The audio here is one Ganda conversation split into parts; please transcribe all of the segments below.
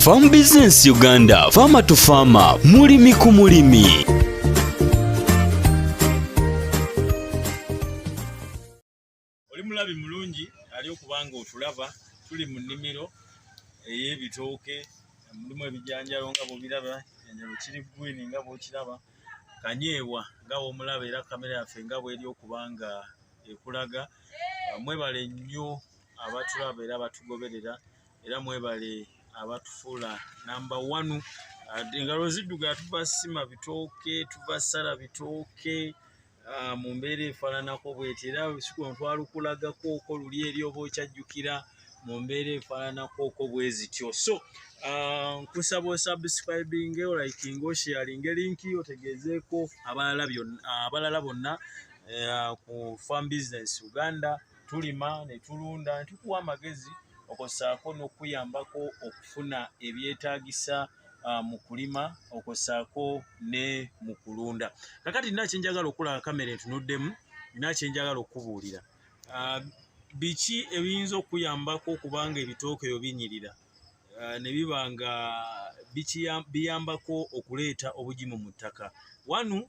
Farm Business Uganda, Farmer to Farmer, mulimi ku mulimi. Oli mulabi mulungi ali okubanga otulaba tuli mu nnimiro ey'ebitooke mulimu ebijanjalo nga bwobiraba ekijanjalo kiri gwini nga bwokiraba kanyeebwa nga womulaba era kamera yaffe nga bweri okuba nga ekulaga mwebale nnyo abatulaba era batugoberera era mwebale abatufuula namba wanu engalo zidduga tuva sima bitooke tuva sala bitooke ah, mu mbeera efaananako bweti era sikuno twalukulagakooko luli eri oba okyajjukira mu mbeera efaananakooko bwe zityo so ah, nkusaba osubscribinge olikinga osharinge linki otegeezeeko abalala bonna eh, ku farm business uganda tulima ne tulunda ne tukuwa amagezi okosaako n'okuyambako okufuna ebyetaagisa uh, mu kulima okosaako ne mu kulunda kakati nina kyenjagala okulaba kamera entunuddemu nina kyenjagala okukubuulira uh, biki ebiyinza okuyambako okubanga ebitooke ebyo binyirira uh, ne biba nga biyambako okuleeta obugimu mu ttaka wanu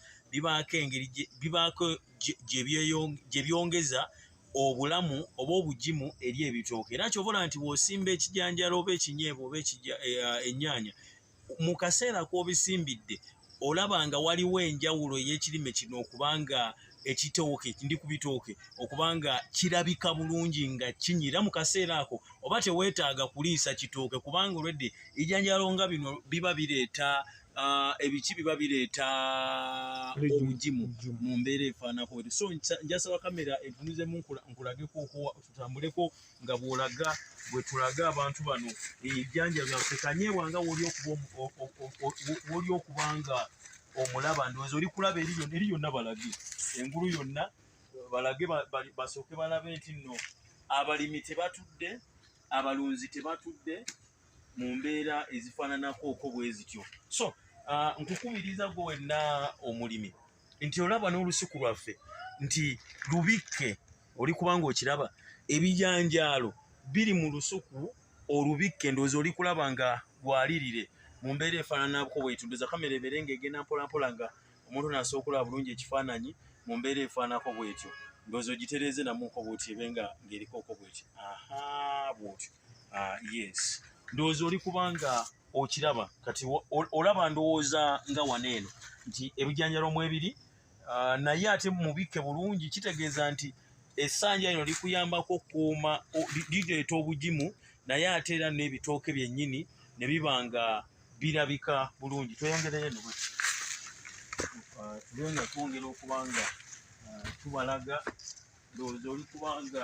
bibaako engeri bibaako gye byongeza obulamu oba obugimu eri ebitooke era kyobola nti wosimba ekijanjalo oba ekinyeebwa oba eh, ennyaanya mu kaseera kw'obisimbidde olaba nga waliwo enjawulo ey'ekirime kino okubanga ekitooke ndi ku bitooke okubanga kirabika bulungi nga kinyira mu kaseera ako oba teweetaaga kuliisa kitooke kubanga olwedde ejanjalo nga bino biba bireeta Ah, ebiki biba bireeta obugimu mu mbeera efaanako eri so njasaba kamera entunuzemu nkulageko tutambuleko nga bwolaga bwetulaga abantu bano ebijanja byaffe kanyeebwa nga woli okuba nga omulaba ndowooza oli kulaba eri yonna balage engulu yonna balage basooke balabe nti nno abalimi tebatudde abalunzi tebatudde mu mbeera ezifaananako oko bwe zityo so uh, nkukubiriza gwe wenna omulimi nti olaba n'olusuku lwaffe nti lubikke oli kubanga okiraba ebijanjaalo biri mu lusuku olubikke ndowooza oli kulaba nga lwalirire mu mbeera efaananako bwetunduza kamera ebeere nga egenda mpolampola nga omuntu nasobola okulaba bulungi ekifaananyi mu mbeera efaanako bwetyo ndowooza ogitereeze namuko bwotyo ebe nga ng'erikoko bwetyo aha bwotyo Ah, yes ndowooza oli kubanga okiraba kati olaba ndowooza nga wano eno nti ebijanjalo mu ebiri ah, naye ate mubikke bulungi kitegeeza nti esanja lino likuyambako okukuuma lireeta obugimu naye ate era n'ebitooke byennyini ne biba nga birabika bulungi tweyongereyo eno bwe ah, tube nga twongera okuba nga tubalaga ndowooza oli kubanga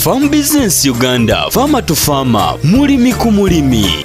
Farm Business Uganda, Farmer to Farmer, mulimi ku mulimi.